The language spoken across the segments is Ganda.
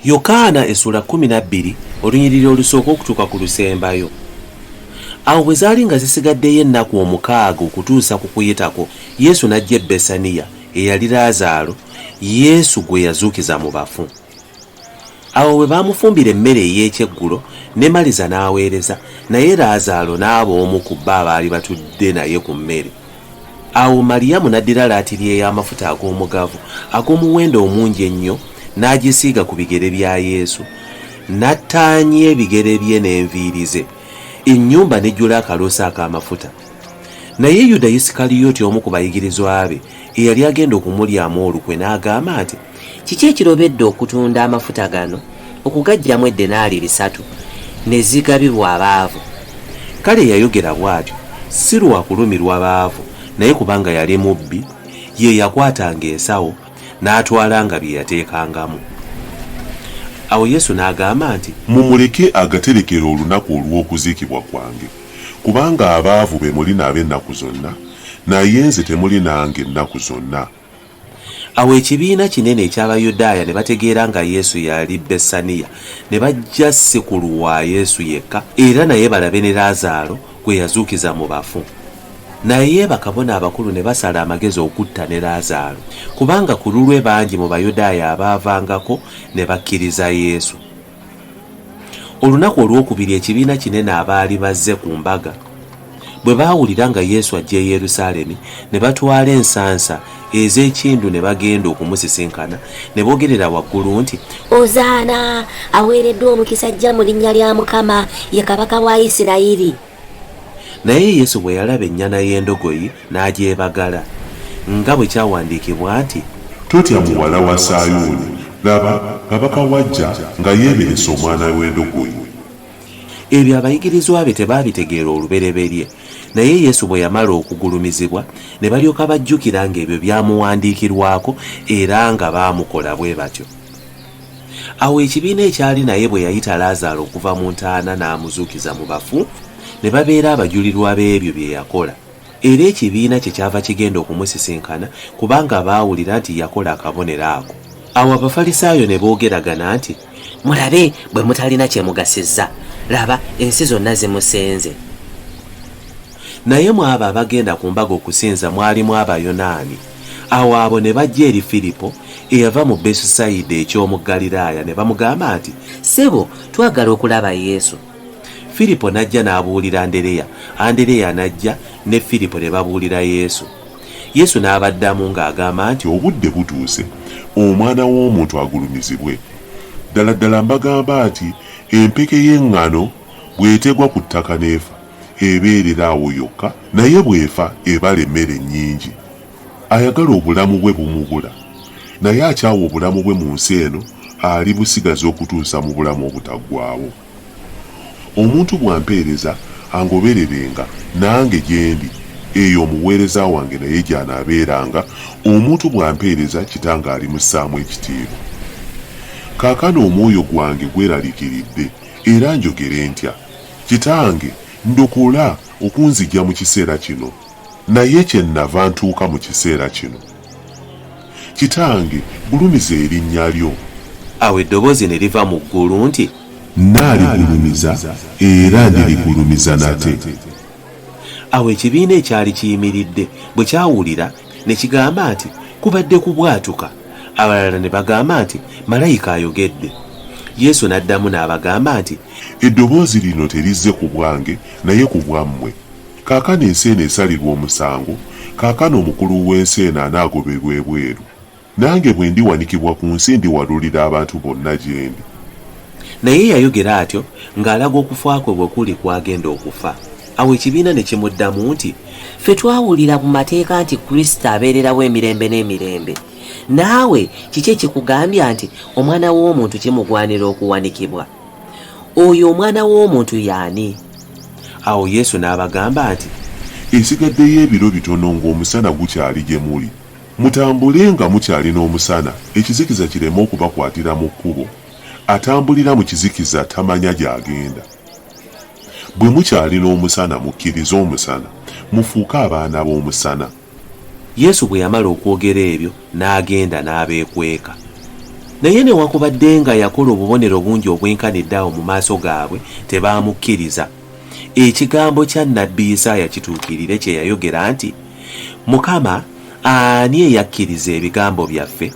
yokaana essuula 12 olunyiriri olusooka okutuuka ku lusembayo awo bwe zaali nga zisigaddeyo ennaku omukaaga okutuusa ku kuyitako yesu n'ajja e besaniya eyali laazaalo yesu gwe yazuukiza mu bafu awo bwe baamufumbira emmere ey'ekyeggulo ne maliza n'aweereza naye laazaalo n'aba omu ku bo abaali batudde naye ku mmere awo maliyamu n'addira laatiri ey'amafuta ag'omugavu ag'omuwendo omungi ennyo n'agisiiga ku bigere bya yesu n'attaanya ebigere bye n'enviiri ze ennyumba n'ejjula akaloosa ak'amafuta Naye Yuda Yisikaliyoti omu ku bayigirizwa be eyali agenda okumulyamu olukwe n'agamba nti, Kiki ekirobedde okutunda amafuta gano okugaggyamu eddenaali bisatu ne zigabibwa abaavu? Kale yayogera bw'atyo si lwa kulumirwa baavu, naye kubanga yali mubbi, ye yakwatanga ensawo n'atwalanga bye yateekangamu. Awo Yesu n'agamba nti. Mumuleke agaterekere olunaku olw'okuziikibwa kwange. Kubanga abaavu be muli nabo ennaku zonna, naye nze temuli nange nnaku zonna. Awo ekibiina kinene eky'Abayudaaya ne bategeera nga Yesu yali Bessaniya, ne bajja si ku lwa Yesu yekka, era naye balabe ne Laazaalo gwe yazuukiza mu bafu. Naye bakabona abakulu ne basala amagezi okutta ne Laazaalo, kubanga ku lulwe bangi mu Bayudaaya abaavangako ne bakkiriza Yesu. Olunaku olwokubiri ekibiina kinene abaali bazze ku mbaga bwe baawulira nga Yesu ajja e Yerusaalemi, ne batwala ensansa ez'ekindu ne bagenda okumusisinkana, ne boogerera waggulu nti, Ozaana! Aweereddwa omukisa ajja mu linnya lya Mukama, ye Kabaka wa Isirayiri! Naye Yesu bwe yalaba ennyana y'endogoyi n'agyebagala, nga bwe kyawandiikibwa nti. Totya muwala wa Sayuuni, laba, kabaka wo ajja nga yeeberese omwana w'endogoyi. Ebyo abayigirizwa be tebaabitegeera olubereberye, naye Yesu bwe yamala okugulumizibwa, ne balyoka bajjukira ng'ebyo byamuwandiikirwako era nga baamukola bwe batyo. Awo ekibiina ekyali naye bwe yayita Laazaalo okuva mu ntaana n'amuzuukiza mu bafu, ne babeera abajulirwa b'ebyo bye yakola. Era ekibiina kye kyava kigenda okumusisinkana, kubanga baawulira nti yakola akabonero ako. Awo Abafalisaayo ne boogeragana nti. Mulabe bwe mutalina kye mugasizza! Laba, ensi zonna zimusenze. Naye mu abo abagenda ku mbaga okusinza mwalimu Abayonaani. Awo abo ne bajja eri Firipo, eyava mu Besusayida eky'omu Ggaliraaya, ne bamugamba nti. Ssebo, twagala okulaba Yesu. Firipo n'ajja n'abuulira Andereya, Andereya n'ajja ne Firipo ne babuulira Yesu. Yesu n'abaddamu ng'agamba nti. Obudde butuuse Omwana w'omuntu agulumizibwe. Ddala ddala mbagamba nti, Empeke y'eŋŋano bw'etegwa ku ttaka n'efa, ebeerera awo yokka naye bw'efa ebala emmere nnyingi. Ayagala obulamu bwe bumubula, naye akyawa obulamu bwe mu nsi eno alibusigaza okutuusa mu bulamu obutaggwaawo. Omuntu bw'ampeereza, angobererenga, nange gye ndi, eyo omuweereza wange naye gy'anaabeeranga, omuntu bw'ampeereza Kitange alimussaamu ekitiibwa. Kaakano omwoyo gwange gweraliikiridde, era njogere ntya? Kitange, ndokola okunzigya mu kiseera kino, naye kye nnava ntuuka mu kiseera kino. Kitange, gulumiza erinnya lyo. Awo eddoboozi ne liva mu ggulu nti. Nnaaligulumiza era ndirigulumiza nate. Awo ekibiina ekyali kiyimiridde bwe kyawulira, ne kigamba nti, Kubadde kubwatuka. Abalala ne bagamba nti, Malayika ayogedde. Yesu n'addamu n'abagamba nti. Eddoboozi lino terizze ku bwange, naye ku bwammwe. Kaakano ensi eno esalirwa omusango, kaakano omukulu w'ensi eno anaagoberwa ebweru. Nange bwe ndiwanikibwa ku nsi ndiwalulira abantu bonna gye ndi. Naye yayogera atyo ng'alaga okufa kwe bwe kuli kw'agenda okufa. Awo ekibiina ne kimuddamu nti, Ffe twawulira mu mateeka nti Kristo abeererawo emirembe n'emirembe. Naawe kiki ekikugambya nti omwana w'omuntu kimugwanira okuwanikibwa? Oyo omwana w'omuntu y'ani? Awo Yesu n'abagamba nti, Esigaddeyo ebiro bitono ng'omusana gukyali gye muli. Mutambule nga mukyali n'omusana, ekizikiza kireme okubakwatira mu kkubo. Atambulira mu kizikiza tamanya gy'agenda. Bwe mukyali n'omusana, mukkirize omusana, mufuuke abaana b'omusana. Yesu bwe yamala okwogera ebyo, n'agenda n'abeekweka. Naye newakubadde nga yakola obubonero bungi obwenkanidde awo mu maaso gaabwe, tebaamukkiriza. Ekigambo kya nnabbi Isaaya kituukirire kye yayogera nti, Mukama, ani eyakkiriza ebigambo byaffe?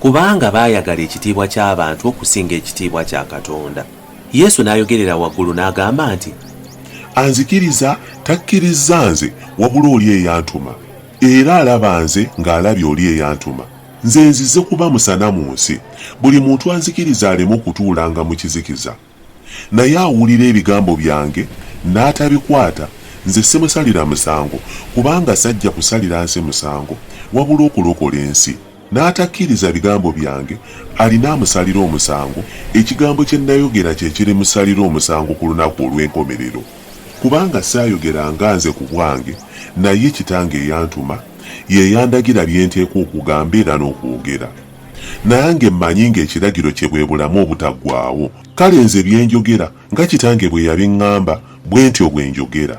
kubanga baayagala ekitiibwa ky'abantu okusinga ekitiibwa kya Katonda. Yesu n'ayogerera waggulu n'agamba nti. Anzikiriza takkirizza nze wabula oli eyantuma, era alaba nze ng'alabye oli eyantuma. Nze nzize kuba musana mu nsi, buli muntu anzikiriza aleme okutuulanga mu kizikiza. Naye awulira ebigambo byange n'atabikwata, nze simusalira musango, kubanga sajja kusalira nsi musango, wabula okulokola ensi. N'atakkiriza bigambo byange, alina amusalira omusango, ekigambo kye nayogera kye kirimusalira omusango ku lunaku olw'enkomerero. Kubanga saayogera nga nze ku bwange, naye Kitange eyantuma, ye yandagira bye nteekwa okugamba era n'okwogera. Nange mmanyi ng'ekiragiro kye bwe bulamu obutaggwaawo. Kale nze bye njogera, nga Kitange bwe yabiŋŋamba, bwe ntyo bwe njogera.